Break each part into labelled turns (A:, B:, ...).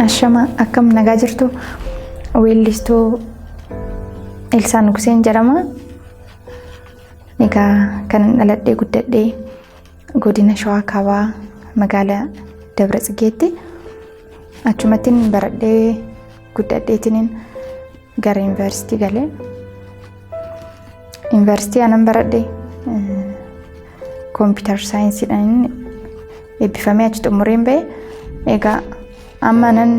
A: Ashama akkam nagaa jirtu weellistuu Elsaa Nugseen jedhama. Egaa kan dhaladhee guddadhee godina Shawaa Kaabaa magaalaa Dabra Tsigeetti achumattiin baradhee guddadheetiniin gara yuunivarsiitii galee yuunivarsiitii anan baradhe kompiitar saayinsiidhaan eebbifamee achi xumureen ba'e egaa amma anan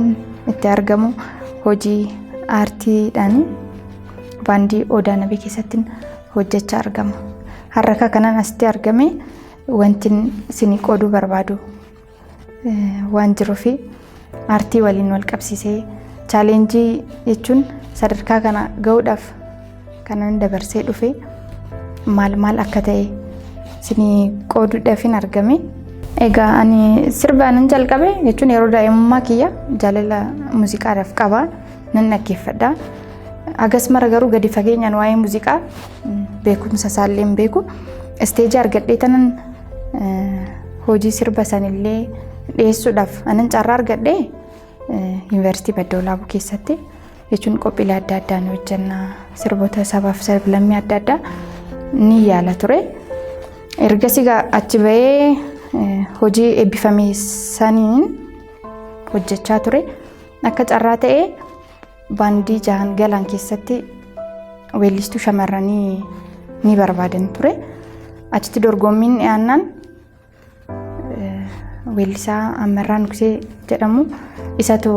A: itti argamu hojii aartiidhaan baandii odaa nabii keessatti hojjechaa argama har'a kanan asitti argame wanti isinii qooduu barbaadu waan jiruu fi aartii waliin wal qabsiisee chaaleenjii jechuun sadarkaa kana ga'uudhaaf kanan dabarsee dhufe maal maal akka ta'e isinii qooduudhaafin argame. Egaa ani sirba nan jalqabe jechuun yeroo daa'imummaa kiyya jaalala muuziqaadhaaf qaba nan dhaggeeffadha. Agas mara garuu gadi fageenyaan waa'ee muuziqaa beekumsa isaallee hin beeku. Isteejii argadhee tanan Hojii sirba sanillee dhiyeessuudhaaf anan carraa argadhe yuunivarsiitii Badda Olaabuu keessatti jechuun qophiilee adda addaa ni hojjenna sirboota sabaaf sablammii adda addaa ni yaala ture. Ergasii achi bahee hojii eebbifame saniin hojjechaa ture akka carraa ta'ee. Baandii Jahan Galaan keessatti weellistuu shamarranii ni barbaadan ture. Achitti dorgommiin dhiyaannaan weellisaa Ammarraa Nugsee jedhamu isatu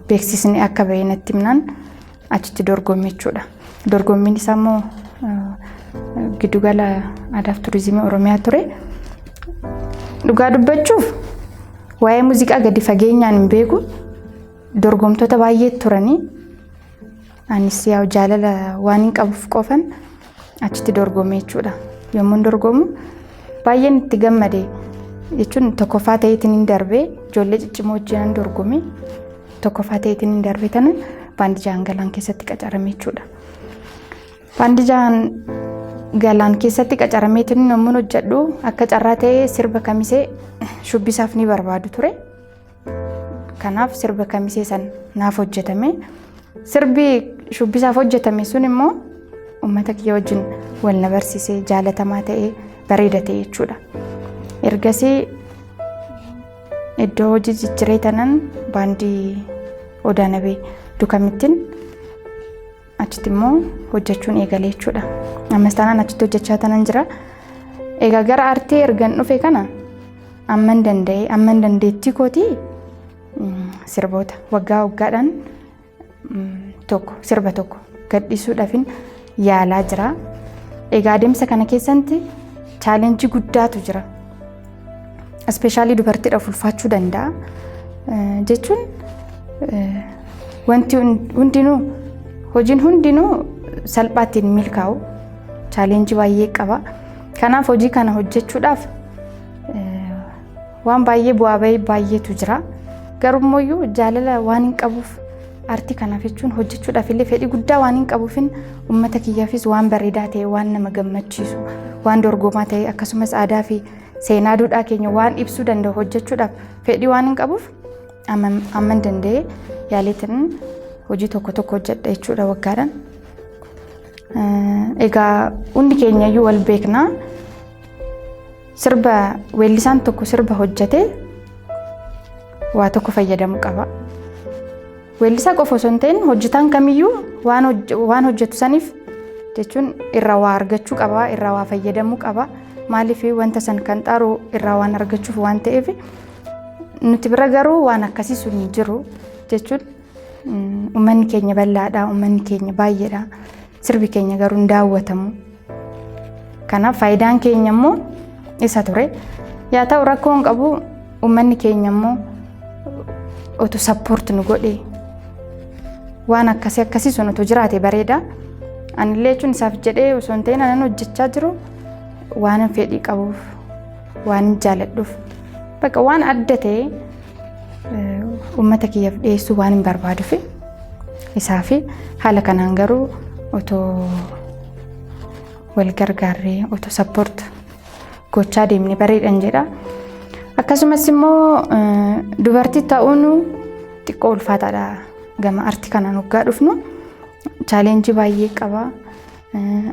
A: beeksisni akka ba'e natti himnaan achitti dorgomme jechuudha. Dorgommiin isaa immoo giddugala aadaa fi turizimii Oromiyaa ture. Dhugaa dubbachuuf waa'ee muuziqaa gadi fageenyaan hin beeku. Dorgomtoota baay'ee turanii anis yaa jaalala waan hin qabuuf qofan achitti dorgomee jechuudha. Yommuun dorgomu baay'een itti gammade jechuun tokkoffaa ta'eetiin hin darbee ijoollee ciccimoo wajjinan dorgomee tokkoffaa ta'eetiin hin darbee tana baandijaan galaan keessatti qacarame jechuudha. Baandijaan galaan keessatti qacarameetiin yommuun hojjedhu akka carraa ta'ee sirba kamisee shubbisaaf ni barbaadu ture. Kanaaf sirba kamisee san naaf hojjetame. Sirbi shubbisaaf hojjetame sun immoo uummata kiyya wajjin wal na barsiisee jaalatamaa ta'ee bareeda ta'e jechuudha. Ergasii iddoo hojii jijjiree tanan baandii Odaanabee dukamittiin achitti immoo hojjechuun eegalee jechuudha. Ammas taanaan achitti hojjechaa tanan jira. Egaa gara artii ergan dhufe kana amman danda'e amman dandeettii kootii mm, sirboota waggaa waggaadhaan mm, tokko sirba tokko gadhiisuudhaafin yaalaa jira. Egaa adeemsa kana keessatti chaalenjii guddaatu jira. Ispeeshaalii dubartiidhaaf ulfaachuu danda'a. Jechuun wanti hundinuu hojiin hundinuu salphaatti hin milkaa'u. Chaaleenjii baay'ee qaba. Kanaaf hojii kana hojjechuudhaaf waan baay'ee bu'aa bahii baay'eetu jira. Garuu immoo jaalala waan hin qabuuf Aartii kanaaf jechuun hojjechuudhaaf illee fedhii guddaa waan hin qabuufin uummata kiyyaafis waan bareedaa ta'e waan nama gammachiisu waan dorgomaa ta'e akkasumas aadaa fi seenaa duudhaa keenya waan ibsuu danda'u hojjechuudhaaf fedhii waan hin qabuuf amman danda'e yaaleetiin hojii tokko tokko hojjedha jechuudha waggaadhaan. Egaa hundi keenyayyuu wal beekna. Sirba weellisaan tokko sirba hojjetee waa tokko fayyadamu qaba. Weellisaa qofa osoo hin ta'in hojjetaan kamiyyuu waan hojj- waan hojjetu saniif jechuun irraa waa argachuu qaba, irraa waa fayyadamuu qaba. Maaliif wanta san kan xaaru irraa waan argachuuf waan ta'eef nuti bira garuu waan akkasii sun hin jiru jechuun Uummanni keenya bal'aadha, uummanni keenya baay'eedha. Sirbi keenya garuu hin daawwatamu. Kanaaf faayidaan keenya immoo isa ture. Yaa ta'u rakkoo hin qabu uummanni keenya immoo otu sappoort nu godhe waan akkasii akkasii sun otu jiraate bareeda. Anillee jechuun isaaf jedhee osoo hin ta'in anan hojjechaa jiru waan fedhii qabuuf waan jaaladhuuf bakka waan adda ta'e Uummata kiyyaaf dhiyeessuu waan hin barbaaduuf isaa fi haala kanaan garuu otoo wal gargaarree otoo sappoort gochaa deemne bareedhan jedha. Akkasumas immoo dubartii ta'uun xiqqoo ulfaataadha gama arti kanaan hoggaa dhufnu chaaleenjii baay'ee qaba.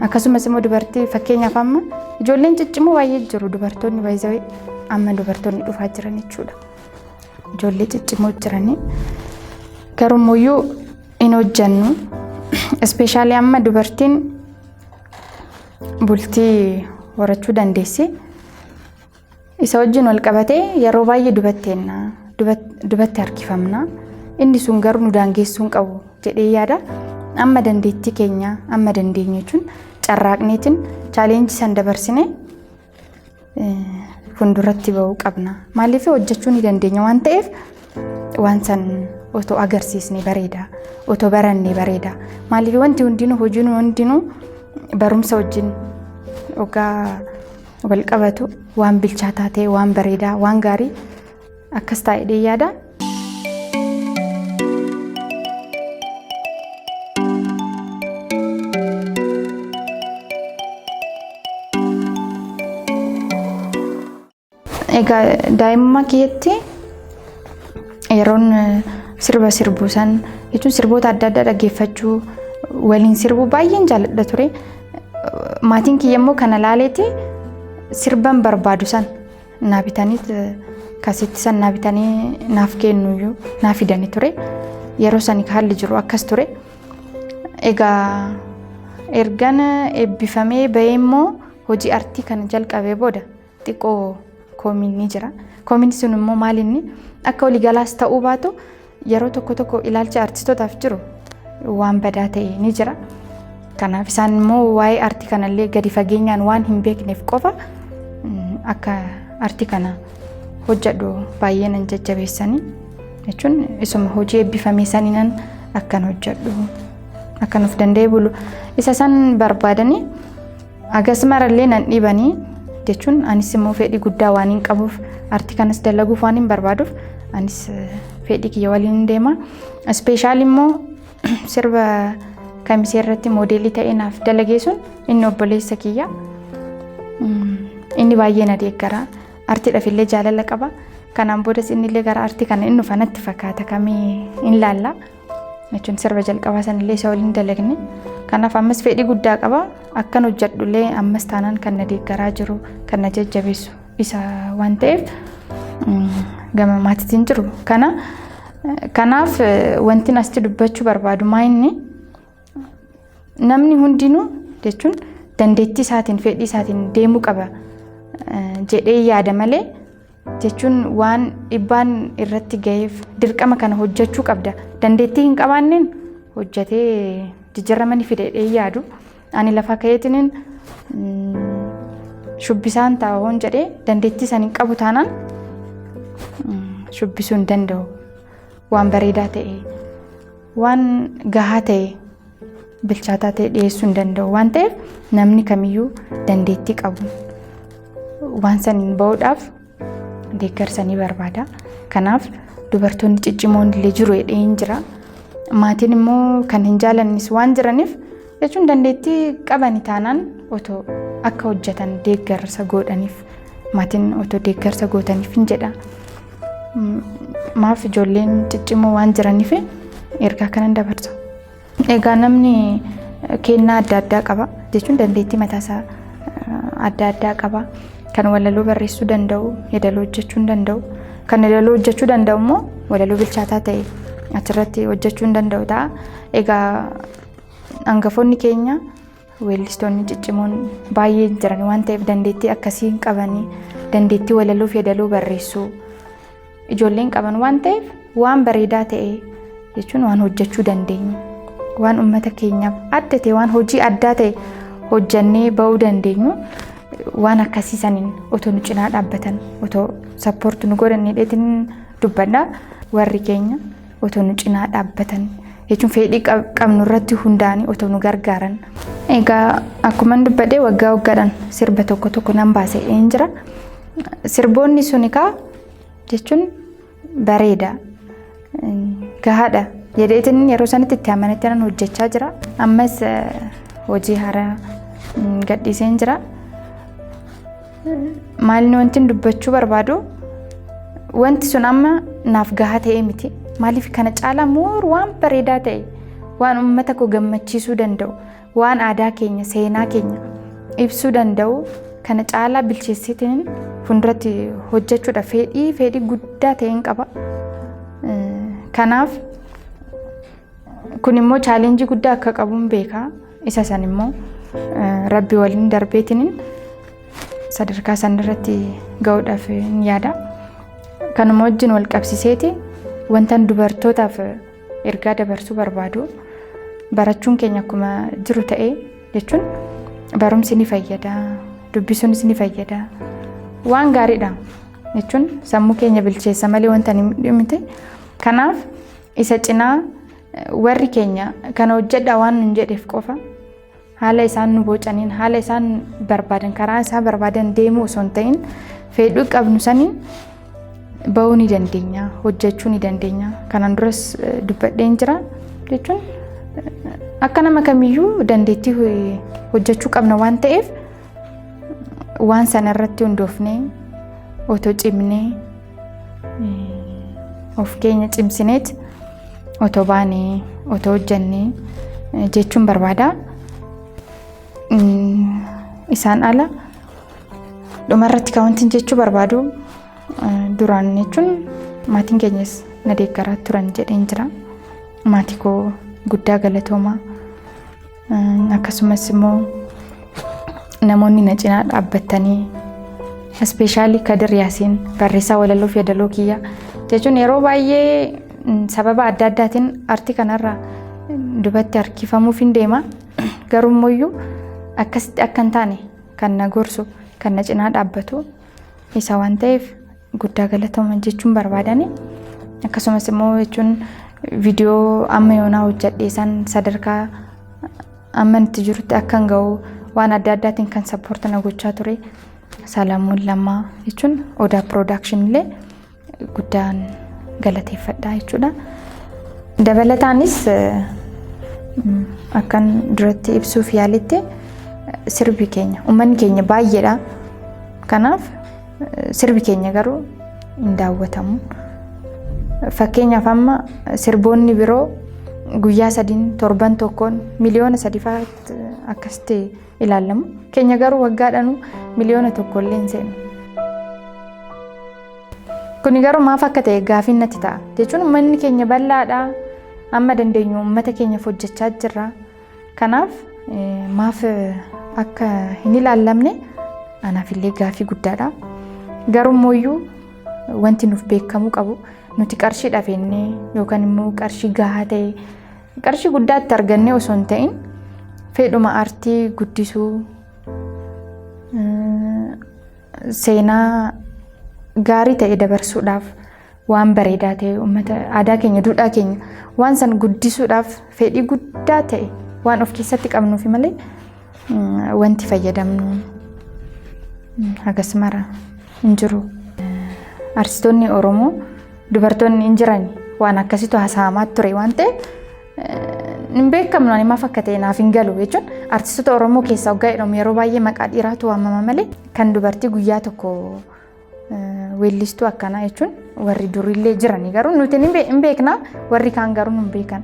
A: Akkasumas immoo dubartii fakkeenyaaf amma ijoolleen ciccimoo baay'ee jiru dubartoonni baay'ee amma dubartoonni dhufaa jiran jechuudha. Ijoollee ciccimoo jiranii garuu iyyuu hin hojjannu. Ispeeshaalii amma dubartiin bultii horachuu dandeessi. Isa wajjin wal qabatee yeroo baay'ee dubatteenna dubatti harkifamna inni sun garuu nu daangeessuu hin qabu jedhee yaada amma dandeettii keenya amma dandeenye jechuun carraaqneetiin chaaleenjii san dabarsine fuulduratti ba'uu qabna maaliif hojjechuu ni dandeenya waan ta'eef waan san otoo agarsiisne bareeda otoo baranne bareeda maaliif wanti hundinuu hojiin hundinuu barumsa wajjin ogaa wal qabatu waan bilchaataa ta'e waan bareedaa waan gaarii akkas taa'ee yaada. Egaa daa'imummaa kiyyatti yeroon sirba sirbuu san jechuun sirboota adda addaa dhaggeeffachuu waliin sirbuu baay'een jaalladha ture. Maatiin kiyya immoo kana laaleeti sirban barbaadu san naa bitanii kasitti san naa bitanii naaf kennuyyuu naa fidanii ture. Yeroo sani haalli jiru akkas ture. Egaa ergan eebbifamee bahee immoo hojii artii kana jalqabee booda xiqqoo koomiin ni jira. Koomiin sun immoo maal inni akka waliigalaas ta'uu baatu yeroo tokko tokko ilaalcha artistootaaf jiru waan badaa ta'e ni jira. Kanaaf isaan immoo waa'ee artii kanallee gadi fageenyaan waan hin beekneef qofa mm, akka artii kana hojjedhu baay'ee nan jajjabeessanii jechuun isuma hojii eebbifamee saniinan akkan hojjedhu akkan of danda'e bulu isa san barbaadanii Agas marallee nan dhiibanii jechuun anis immoo fedhii guddaa waan hin qabuuf artii kanas dalaguuf waan hin barbaaduuf anis fedhii kiyya waliin hin deema. Ispeeshaal immoo sirba kamisee irratti moodeelii ta'ee naaf dalagee sun inni obboleessa kiyya. Inni baay'ee na deeggara. Artiidhaaf illee jaalala qaba. Kanaan boodas inni illee gara artii kana inni dhufa natti fakkaata kamii hin laalla. jechuun sirba jalqabaa sanillee isa waliin dalagne. Kanaaf ammas fedhii guddaa qaba. Akkan hojjedhullee ammas taanaan kan na deeggaraa jiru kan na jajjabeessu isa waan ta'eef gama maatiitiin jiru. Kana kanaaf wanti asitti dubbachuu barbaadu maa inni namni hundinuu jechuun dandeettii isaatiin fedhii isaatiin deemuu qaba jedhee yaada malee jechuun waan dhibbaan irratti ga'eef dirqama kana hojjechuu qabda dandeettii hin qabaanneen hojjetee jijjiirama ni fida jedhee yaadu ani lafa ka'eetiniin shubbisaan ta'a hoon jedhee dandeettii san hin qabu taanaan shubbisuu hin danda'u waan bareedaa ta'e waan gahaa ta'e bilchaataa ta'e dhiyeessuu hin danda'u waan ta'eef namni kamiyyuu dandeettii qabu waan saniin ba'uudhaaf deeggarsa ni barbaada. Kanaaf dubartoonni ciccimoon illee jiru jedhee hin jira. Maatiin immoo kan hin jaalannis waan jiraniif jechuun dandeettii qabani taanaan otoo akka hojjetan deeggarsa godhaniif maatiin otoo deeggarsa gootaniif hin jedha. Maaf ijoolleen ciccimoo waan jiraniif ergaa kanan dabarsa. Egaa namni kennaa adda addaa qaba jechuun dandeettii mataasaa adda addaa qaba. Kan walaloo barreessuu danda'u, yeedaloo hojjechuu hin danda'u. Kan yeedaloo hojjechuu danda'u immoo walaloo bilchaataa ta'e achirratti hojjechuu hin danda'u ta'a. Egaa hangafoonni keenya Weellistoonni ciccimoon baay'ee jiran waan ta'eef dandeettii akkasii hin qabanii dandeettii walaloo fi yeedaloo barreessuu ijoolleen qaban waan ta'eef waan bareedaa ta'e jechuun waan hojjechuu dandeenyu waan uummata keenyaaf adda ta'e waan hojii addaa ta'e hojjannee ba'uu dandeenyu waan akkasii saniin otoo nu cinaa dhaabbatan otoo sappoorti nu godhan hidheetiin dubbadha warri keenya. otoo nu cinaa dhaabbatan jechuun fedhii qabnu irratti hundaa'anii otoo nu gargaaran. Egaa akkuma dubbadhee waggaa waggaadhaan sirba tokko tokko nan baase hin jira. Sirboonni sun egaa jechuun bareeda gahaadha jedheetiin yeroo sanitti itti amanetti nan hojjechaa jira. Ammas hojii haaraa gadhiiseen jira. Maalni wanti dubbachuu barbaadu wanti sun amma naaf gahaa ta'ee miti. Maaliif kana caalaa moor waan bareedaa ta'e waan uummata koo gammachiisuu danda'u waan aadaa keenya seenaa keenya ibsuu danda'u kana caalaa bilcheessitiin fuulduratti hojjechuudha fedhii fedhii guddaa ta'een qaba. Kanaaf Kun immoo chaalenjii guddaa akka qabuun beeka. Isa san immoo rabbi waliin darbeetiniin sadarkaa san irratti ga'uudhaaf hin yaada. Kanuma wajjin wal qabsiseeti wantan dubartootaaf ergaa dabarsuu barbaadu barachuun keenya akkuma jiru ta'ee jechuun barumsi ni fayyada dubbisuunis ni fayyada waan gaariidha jechuun sammuu keenya bilcheessa malee wanta hin dhimne kanaaf Isa cinaa warri keenya kana hojjedhaa waan nun jedheef qofa haala isaan nu bocaniin haala isaan barbaadan karaa isaa barbaadan deemuu osoo hin ta'in fedhuu qabnu saniin ba'uu ni dandeenya hojjechuu ni dandeenya kanaan duras dubbadheen jira jechuun akka nama kamiyyuu dandeettii hojjechuu qabna waan ta'eef waan sana irratti hundoofnee otoo cimnee of keenya cimsineet otoo baanee otoo hojjannee jechuun barbaada. Isaan ala dhumarratti kan wanti jechuu barbaadu duraan jechuun maatiin keenyas na deeggaraa turan jedheen jira. Maatii koo guddaa galatoomaa. Akkasumas immoo namoonni na cinaa dhaabbattanii ispeeshaalii Kadir Yaasiin barreessaa walaloo fi yeedaloo kiyya jechuun yeroo baay'ee sababa adda addaatiin artii kanarra dubatti harkifamuuf hin deema garuu immoo akkasitti akka hin taane kan na gorsu kan na cinaa dhaabbatu isa waan ta'eef guddaa galatoomaa jechuun barbaadani akkasumas immoo jechuun viidiyoo amma yoonaa hojjedhee san sadarkaa amma itti jirutti akkan ga'u waan adda addaatiin kan sappoorti na gochaa ture Salamuun Lammaa jechuun Odaa Production illee guddaan galateeffadha jechuudha. Dabalataanis akkan duratti ibsuuf yaalitti sirbi keenya uummanni keenya baay'eedha. Kanaaf Sirbi keenya garuu hin daawwatamu. Fakkeenyaaf amma sirboonni biroo guyyaa sadiin torban tokkoon miliyoona sadifaa akkasitti ilaalamu. Keenya garuu waggaadhaanuu miliyoona tokkollee hin seenu. Kuni garuu maaf akka ta'e gaafiin natti ta'a. Jechuun uummanni keenya bal'aadha. Amma dandeenyu uummata keenyaaf hojjechaa jirra. Kanaaf maaf akka hin ilaallamne anaafillee gaaffii guddaadha. Garummooyyuu wanti nuuf beekamuu qabu nuti qarshii dhafeennee yookaan immoo qarshii gahaa ta'e qarshii guddaa itti argannee osoo hin ta'in fedhuma aartii guddisuu seenaa gaarii ta'e dabarsuudhaaf waan bareedaa ta'e uummata aadaa keenya duudhaa keenya waan san guddisuudhaaf fedhii guddaa ta'e waan of keessatti qabnuufi malee wanti fayyadamnu hagas mara hin jiru. Artistoonni Oromoo dubartoonni hin jiran waan akkasitu haasa'amaa ture waan ta'eef hin beekamnu ani maaf akka ta'e naaf hin galu jechuun artistoota Oromoo keessaa waggaa jedhamu yeroo baay'ee maqaa dhiiraatu waamama malee kan dubartii guyyaa tokko Weellistuu akkanaa jechuun warri durillee jiranii garuu nuti hin beekna warri kaan garuu hin beekan.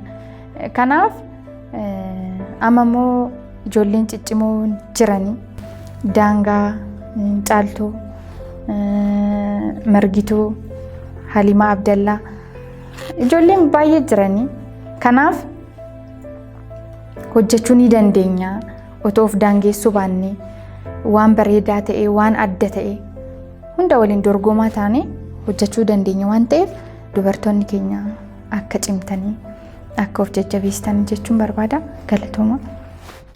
A: Kanaaf amma immoo ijoolleen ciccimoo jiranii daangaa caaltuu margituu halimaa abdallaa ijoolleen baay'ee jiranii kanaaf hojjechuu ni dandeenya. Otoo of daangeessuu baannee waan bareedaa ta'e waan adda ta'e hunda waliin dorgomaa taanee hojjechuu dandeenya waan ta'eef dubartoonni keenya akka cimtanii akka of jajjabeessan jechuun barbaada galatooma.